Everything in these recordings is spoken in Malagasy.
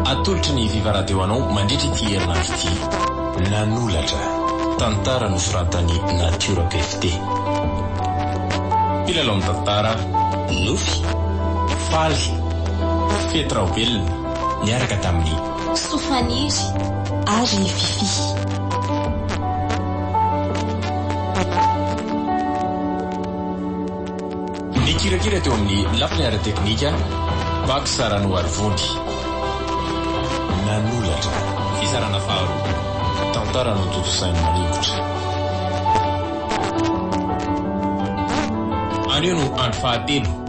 Atolotry ny Viva Radio anao mandritra ity herinandro ity. Nanolatra, tantara nosoratan'i Natiora PFD. Mpilalao ny tantara, nofy, faly, fety raobelona niaraka tamin'i. Sofaniry ary i Fiffi. Nikirakira teo amin'ny lafiny ara-teknika Pax Ranoarivony. Nanolatra. Fizarana faharoa. Tantara notontosain'i Manikotra. Anio no andro fahatelo.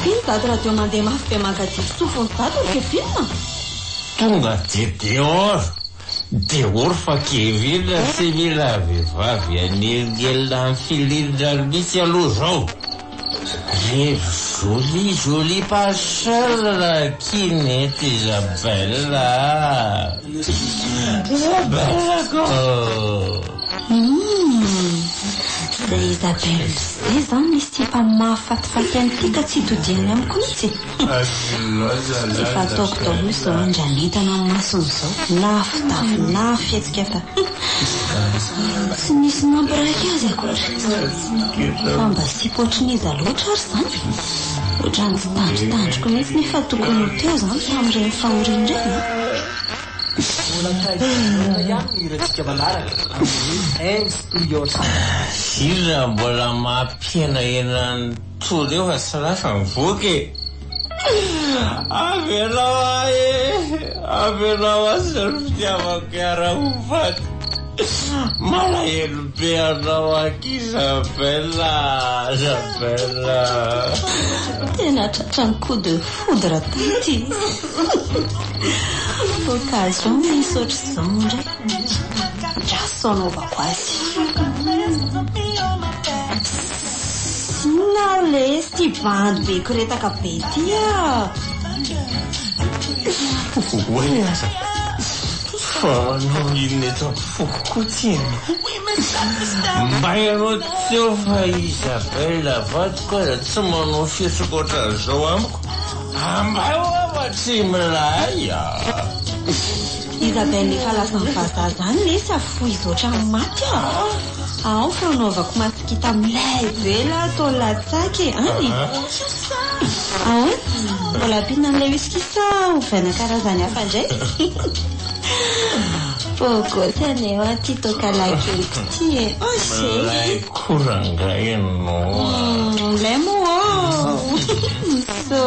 Mpino daty radio mandeha mafy be mankadidy sofiny daty ry kevin a! Tonga de dehors dehors fa kevin tsy mila vehivavy an'elingelina anfilin-drano mitsy aloha zao. Ry jolie jolie passion ra kiny eto Isabelle ah! Isabelle ko! Umm izay Isabelle izay zany misy tsy mba mahafatifaty an'ity ka tsy todiany amiko mihitsy e! Tsy efa ataoko daholo izao an raha ny hitany amin'ny masony izao na fitafy na fihetsika fa umm tsy misy mampirahaka azy akory! Fa mba sipa ohatrin'iza loatra ary izany e? Ohatran'ny tsy tandrintandriko mihitsy ny efa tokony ho teo izany tamin'ireny fahoriana ireny an! Firy raha mbola mampihenahena an'i. Toro fa tsy lasa mivoaka e! Avelao ahy e! Avelao ahy sy ny fitiavako hiara ho faty! Malahelo be anao aky Isabelle a! Isabelle a! Tena tratran'ny coup de foudre taty e! Occasion misy ohatr'izao indray, ndra sao anaovako azy. Tsy inona aho lesy ity bandy be koretaka be ity ah. Oay aza fa anao inona eto amin'ny foko koa tsy inona. Mba ianao teo fa Isabelle vadiko aza tsy manao fihetsika ohatran'izao amiko. Ambay hoa fa tsy milay ah. Isabelle efa lasan'ny vazaha izany lesy ah fohizo ohatran'ny maty ah. Ao fa anaovako masikita milay be la atao latsaka e, an e? Ahoana? Mbola ampiana an'ilay whisky sa ovaina karazany hafa indray? Bogosy anie hoa ity toaka lahy keliko ity e, as e! Milay koa rangahy ianao a! Milay moa ô!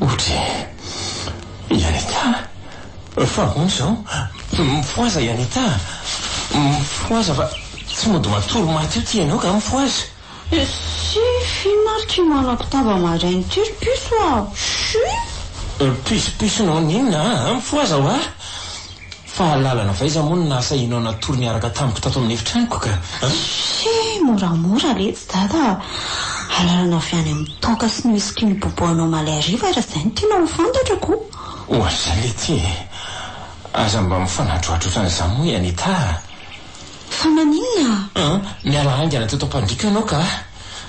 Otri. I Anita a! Fa ahoana izao? Mifohaza i Anita a! Mifohaza fa tsy mody matory maty eo ty enao ka mifohaza! Esy! F'inona ary ky malako tava maraina ty ry piso a! Shuuiipp! Piso piso nao n'inona a! Mifohaza hoa! Fahalalana avy aiza moa no naha sahia anao natory niaraka tamiko tato amin'ny efitranoko ka? Ssy! Moramora letsy dada a! Alalana avy any amin'ny toaka sy ny whisky nibobohanao omaly hariva raha izay no tianao ho fantatra ko! Ohatr'izay letsy e! Aza mba mifanadrohadro otran'izany moa i Anita a! Fa maninona? An! Miala haingana teto am-pandriako ianao ka!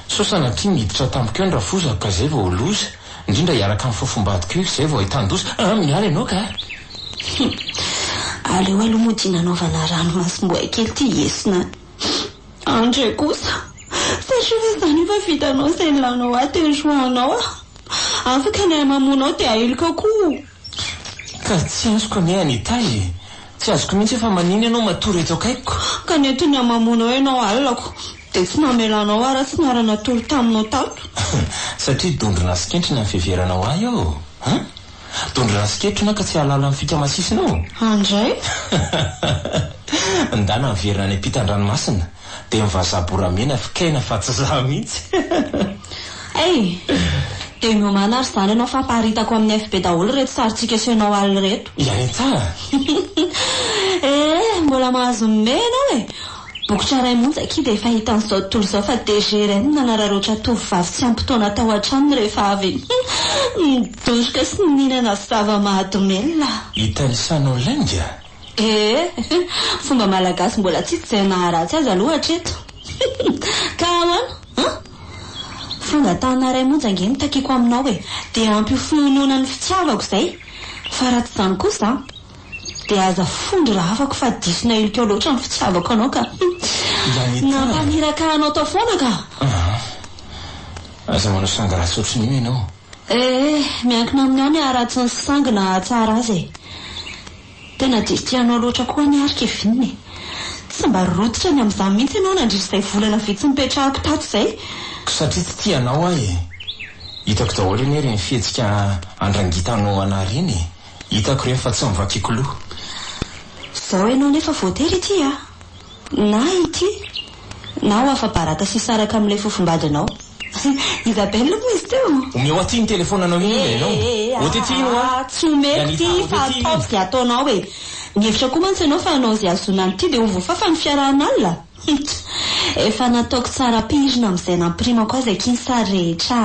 Sao sanatria niditra tamiko eo ny rafozako ka izay vao ho loza? Indrindra hiaraka amin'ny fofombadiko io, izay vao ahitan-doza. Ah, miala ianao ka! Hum. Aleo aloha moa dia nanaovana ranomasom-boay kely ity hiesona any. Andry kosa, satria ve izany efa vitanao izay nilanao ahy teo hiroahanao aho? Afaka ny ahy mamono ao dia ahiliko ao koa. Ka tsy azoko anie Anita e! Tsy azoko mihitsy hoe fa manina ianao matory eto akaikiko? Ka nety ny hamamoanao ianao alinako dia tsy namelanao aho raha tsy niara natory taminao tato. Satria dondrona sy kentrina ny fiheveranao ahy ô! An! Dondrona sy kentrona ka tsy hahalala ny fika masisinao? An dray! Ndana miverina any am-pitan-dranomasina. Dia ny vazaha boramena fikaina fa tsy za mihitsy. Hey! Dia miomàna ary izany ianao fa aparitako amin'ny FB daholo ireto sarintsika asehonao alo ireto. Ianintsa a! Eh! Mbola mahazo ny mehy ianao e! Bokotra iray monja akia dia efa hita an'izao tontolo izao fa DGRN no nanararaotra tovovavy tsy ampy taona tao an-tranony rehefa avy nidoroka sy nihinana zava-mahadomelina. Italisanao lainga? Ee, fomba malagasy mbola tsisy izay naharatsy azy aloha hatreto. Ka ahoana an? Fanga tanana iray monja ange no takiako aminao e! Dia ampy ho finoanoana ny fitiavako izay. Fa raha tsy izany kosa an, dia aza fondro raha afako fa diso nahilikao loatra ny fitiavako anao ka. Nampamiraka anao tao foana ka. Aza manao sanga ratsy ohatrin'io ianao. Eh eh, miankina amin'ny ao ny haratsiny sy sangy nahatsara azy e! Tena diso tia anao loatra koa anie ary Kevin e! Tsy mba rototra ny amin'izany mihitsy ianao nandritra izay volana vitsy nipetrahako tato izay! Satria tsy tia anao aho e! Hitako daholo anie ireny fihetsika andrangitanao anah ireny e! Hitako ireny fa tsy novakiako loha! Izao ianao nefa voatery hitia a! Na ity, na ho afa-baraka sy hisaraka amin'ilay fofombadinao. Isabelle moa izy teo? Omeo aty iny telefonanao iny ilay ianao. Ôty aty iny hoa. Tsy omeko ity fa ataovy izay ataonao e. Mihevitra koa mantsy ianao fa hanao izay hahazoana an'ity dia ho voafafa ny fiarahan'alina? Huch! Efa nataoko tsara ampihirina amin'izay nampirimako azy akia ny sary rehetra.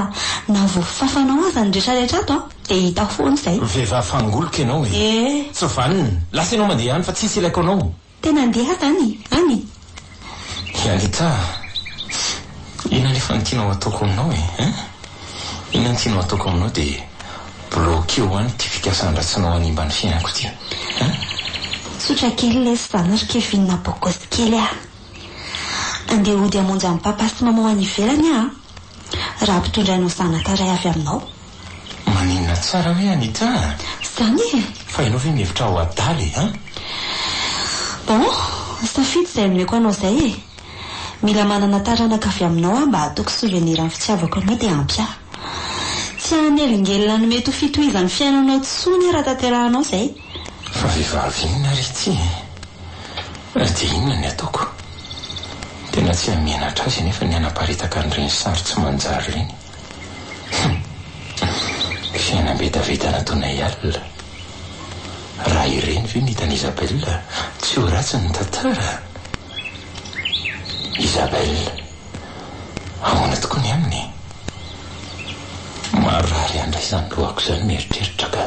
Na voafafanao aza ny rehetra rehetra ato dia hita foana izay. Vehivavy fangoloka ianao e. Tsy vanona. Lasa ianao mandeha any fa tsisy ilaiko anao. Tena andeha any e! Any? Hialita a! Inona nefa ny tianao hataoko aminao e? Hein? Inona ny tianao hataoko aminao dia bloqueo any ity fikasan-dratsinao hanimba ny fiainako ity. Hein? Tsotra kely lesy fa anao ry Kevin bogos kely a! Andeha hody hamonjy an'i Papa sy Maman any ivelany aho a! Raha mpitondra anao zanaka iray avy aminao. Maninona tsara hoe Anita a? Izany e! Fa ianao ve mihevitra ho adala e, an? Bon, safidy izay omeko anao izay e! Mila manana taranaka avy aminao aho mba hataoko souvenir ny fitiavako anao dia ampy ahy. Tsy hanelingelina ny mety ho fitohizan'ny fiainanao intsony aho raha tanterahanao izay. Fa vehivavy inona ary ity e? Ary dia inona ny ataoko? Tena tsy hamenatra azy anefa ny hanaparitaka an'ireny sary tsy manjary ireny. Humm. Fiainam-betavetana toa anay alina. Raha ireny ve no hitan'i Isabelle, tsy ho ratsy ny tantara? Isabelle, ahoana tokoa ny aminy? Marary handray izany lohako izany mieritreritra ka.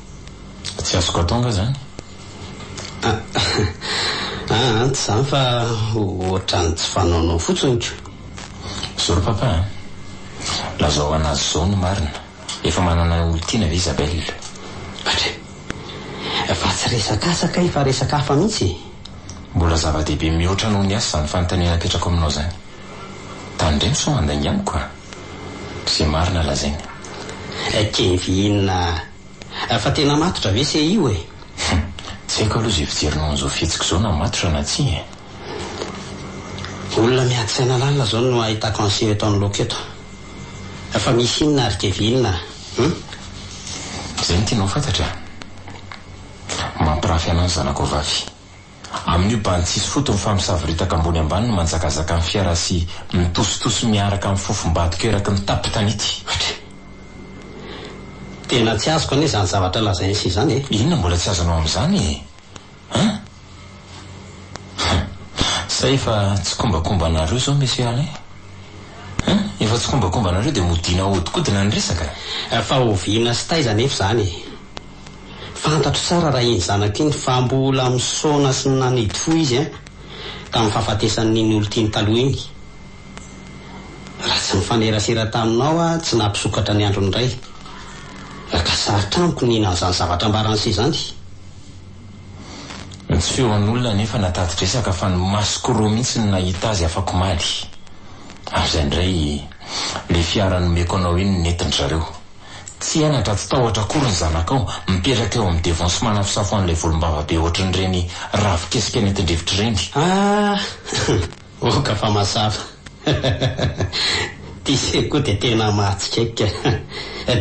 Tsy azoko atao nga zany? Ah ah tsy zany fa ohatran'ny tsy fanaonao fotsiny ko. Zao ry papa a! Lazao anazy zao ny marina, efa manana olon-tiana ve Isabelle? Atra e! Fa tsy resak'asa kay fa resaka hafa mihitsy e! Mbola zava-dehibe mihoatra noho ny asa zany fanontaniana apetrako aminao zany. Tandremo sao mandainga amiko a! Ze marina lazainy. Kenvy inona ah? Fa tena matotra ve se io eh? Hum, tsy haiko aloha ze fijerinao an'izao fihetsika izao na matotra na tsia eh. Olona miady saina lalina zao no ahitako an'seho eto anoloako eto. Fa misy inona ry kevy inona hum? Zay no tianao fantatra eh? Mampirafy anao ny zanako vavy. Amin'io bany tsisy fotony fa misavoritaka ambony ambany ny manjakazaka ny fiara sy mitositosy miaraka amin'ny fofom-badiko eraky ny tapin-tanety. Hatry. Tena tsy azoko anie izany zavatra lazain'i Sy izany e. Inona mbola tsy azonao amin'izany e? Hein? Hein. Sa efa tsikombakombanareo izao Monsieur Alain? Hein? Efa tsikombakombanareo dia modiana ahodinkodina ny resaka? Fa oviana sy taiza anefa izany e? Fantatro tsara raha iny zanako iny fa mbola misaona sy nanidy fo izy an! tamin'ny fahafatesan'ny iny olon-tiany taloha iny. Raha tsy nifanerasera taminao aho tsy nahapisokatra ny androny indray. Laka sarotra amiko ny hihinana izany zavatra ambaran'i se izany. Nisy feon'olona anefa natati-dresaka fa ny masoko roa mihitsy no nahita azy afak'omaly. Amin'izay indray ilay fiara nomeko anao iny nentin-dry zareo. Tsy henatra, tsy tahotra akory ny zanakao, mipetraka eo amin'ny devant sy manafosafo an'ilay volombava be ohatrin'ireny ravikesika nentin-drivotra ireny. Ah! Oka fa mazava. Ity seka koa dia tena mahatsikaiky ka.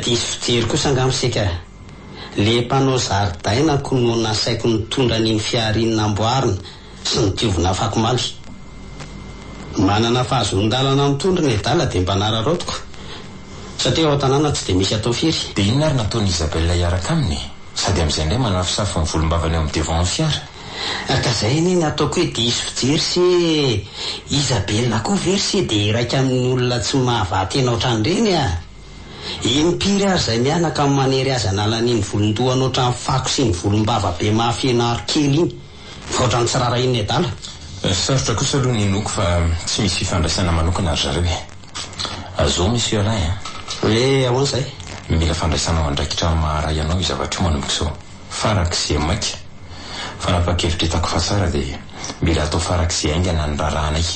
Diso fijery kosa angaha ny seka. Ilay mpanao zaridaina ko no nasaiko nitondra an'iny fihariany namboarina Tsy ny diovina afako maly. Manana fahazoan-dalana mitondra ny adala dia mba nararaotiko satria ao an-tanàna tsy dia misy atao firy. Dia inona ary no ataon'i Isabelle hiaraka aminy e? Sady amin'izay indray manafosafo ny volombavany eo amin'ny devant-n'ny fiara. Ka izay anie no ataoko hoe diso fijery se Isabelle koa ve ry se dia iraika amin'olona tsy mahavaha tena ohatran'ireny a! Eny mpiry ary izay mianaka no manery azy hanala an'iny volon-dohany ohatran'ny fako sy ny volombava be mahafeno aro kely iny. Misaotra ny tsy raharahian'ny adala. Sarotra kosa aloha ny hinoako fa tsy misy fifandraisana manokana ry zareo e! Azoo Monsieur Alain a! Hoe ahoana izay? Mila fandraisanao andraikitra amin'ny maha ray anao io zavatra io manomboka izao, farak'izay maika. Fanapahan-kevitra hitako fa tsara dia mila atao farak'izay haingana ny raharahanay.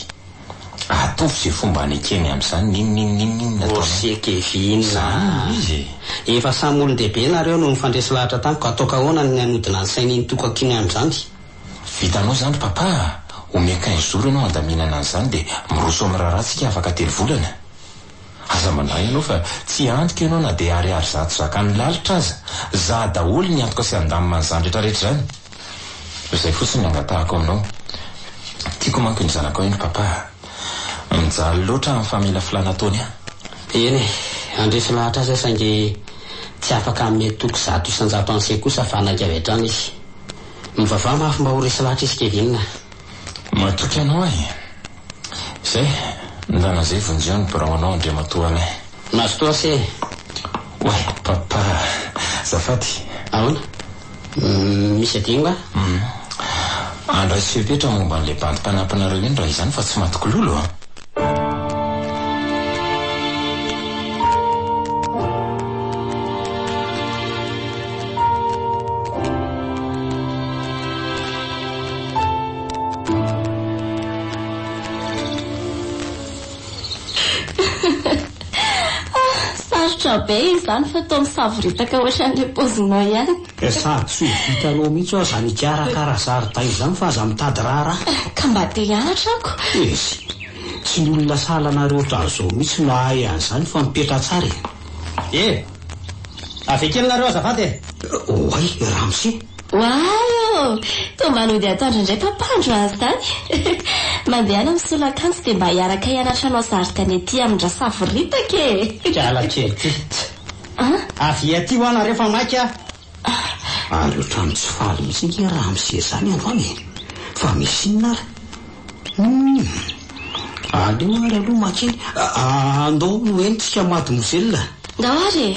Atovy izay fomba anekeny amin'izany n'inon'inon'inona ataonao. Morse kevy inona. Za hono izy e. Efa samy olon-dehibe nareo no nifandresy lahatra tamiko, ataoko ahoana ny hanodina ny sain'iny tokako iny amin'izany? Vitanao izany ry Papa a! Omea quinze jours ianao handaminana an'izany dia miroso amin'ny raharaha tsika afaka telo volana. Aza mandray ianao fa tsy antoka ianao na dia ariary zato zakan'ny lalitra aza. Za daholo ny antoka sy handamina an'izany retraretra izany. Izay fotsiny ny angatahako aminao. Tiako manko ny zanakao iny Papa a! Mijaly loatra amin'ny famelafilana ataony an! Eny e! Handresy lahatra azy aho saingy tsy afaka hanome toky zato isan-jato an'se kosa fa hanaiky avy hatrany izy. Mivavaha mafy mba ho resy lahatra izy Kevin a! Matoky anao aho e! Zay, ndana zay vonjeo ny birao anao Andriamatoa anay. Mazotoa ase e! Oay Papa a! Azafady. Ahoana? Misy adino va? Hum. Andraiso fepetra momba an'ilay bandy mpanampinareo iny raha izany fa tsy maty kilolo a! Sarotra be izany fa toa misavoritaka ohatran'ilay paozinao ihany. Sady tsy ho vitanao mihitsy aho izany hikarakara zaridaina izany fa aza mitady raharaha. Ka mba te hianatra ako. Izy, tsy ny olona sahala anareo ohatran'izao mihitsy no hahay an'izany fa mipetraha tsara e. Ee, avy akely nareo azafady e. Oay, Ramose. Ho ahy ô! Toa mba nody atoandro indray Papa andro azy izany. Mandehana misolo akanjo dia mba hiaraka hianatra hanao zari-tany aty amin-dRasavoritaka e! Mpiala kely ty. Tch! Avia aty hoa nareo fa maika aho. Ary otrany tsy faly mihitsy nge raha amin'ny seza any androany e! Fa misy inona ary? Humm! Aleo ary aloha makeny. Andao hoentintsika mademoiselle. Ndao ary e!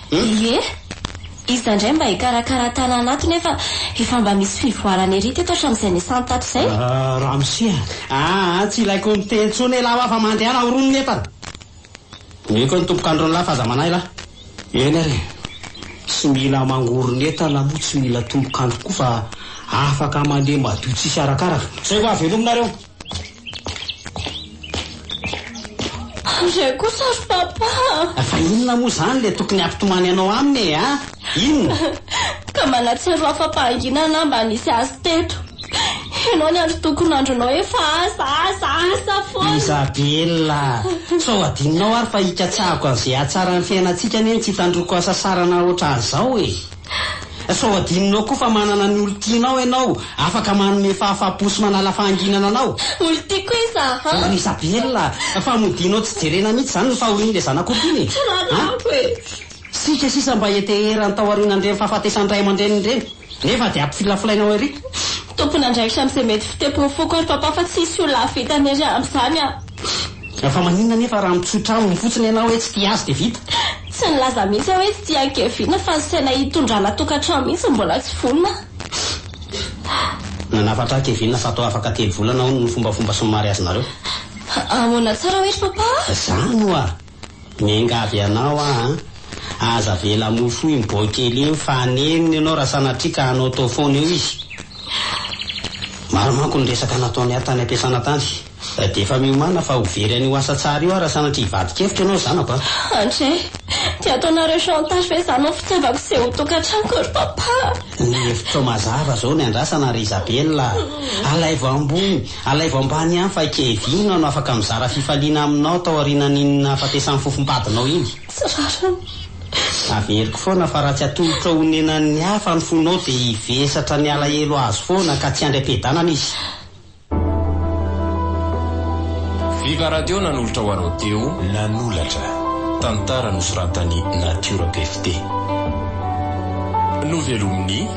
Elie, Iza indray mba hikarakara tanàna ato nefa efa mba misy fivoarana ery teto hatramin'izay niasany tato izay? Ramose, Aa, tsy ilaiko miteny intsony elah hoa fa mandehana ho roa ny entana. Omeko ny tompok'andron'lah f'aza manahy lah. Eny ary e, tsy mila mangoron' entana moa tsy mila tompok'andro koa fa afaka mandeha madio tsisy arakaraka. Zay vao havelominareo. Re kosa ry papa a! Fa inona moa izany ilay tokony hampitomany anao aminy e a! Inona? Ka manatsiaro afa-pahanginana aho mba nisy azy teto. Ianao ny andro tokony andronao efa asa, asa, asa foana. Isabella a! Sao adinonao ary fa ikatsahako an'izay hatsaran'ny fiainantsika anie no tsy hitandroko hasasarana ohatran'izao e! Sao adinonao koa fa manana ny olon-tianao ianao, afaka manome fahafahampo sy manala fahanginana anao. Olon-tiako hoe iza a? Ry Isabelle a! Fa modianao tsy jerena mihitsy izany ny fahorian'ilay zanako olon-tiana e! Rariny amiko e! Isika sisa mba heteherany tao aorianan'ireny fahafatesan'ny ray aman-dreniny ireny, nefa dia ampifilafilainao ery. Tompon'andraikitra amin'izay mety fitempoan'ny foko ary Papa fa tsy hisy olona hahavita ny ary amin'izany aho. Fa maninona anefa raha mitsotra aminy fotsiny ianao hoe tsy tia azy dia vita? Tsy nilaza mihitsy aho hoe tsy tia an'i Kevin fa ny saina hitondrana tokantrano mihitsy mbola tsy vonona. Nanafatra an'i Kevin fa toa afaka telo volana hono ny fombafomba sy ny mariazinareo. Ahoana tsara hoe ry Papa? Zany oa! Miangavy anao aho an! Aza avela mofo iny bois kely iny fa hanenina ianao raha sanatria ka hanao tao foana eo izy. Maro manko ny resaka nataony ahy tany am-piasana tany. Dia efa miomàna fa ho very an'io asa tsara io aho raha sanatria hivadi-kevitra ianao zanako an! André, dia ataonareo chantage ve izany amin'ny fitiavako sy eo tokantranoko ry Papa? Ny hevitrao mazava izao ny andrasana ry Isabelle a! Alaivo ambony! Alaivo ambany ihany fa Kevin aho no afaka mizara fifaliana aminao taorianan'iny nahafatesan'ny fofom-badinao iny. Tsy rariny. Averiko foana fa raha tsy atolotra honenan'ny hafa ny fonao dia hivesatra ny alahelo azo foana ka tsy handry am-piadanana izy. Viva Radio nanolotra ho anao teo. Nanolatra. Tantara nosoratan'i Natiora Pefte. Novelomin'i.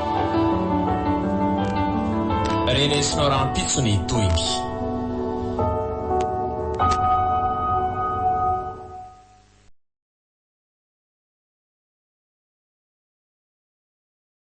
Renesinao rahampitso ny tohiny.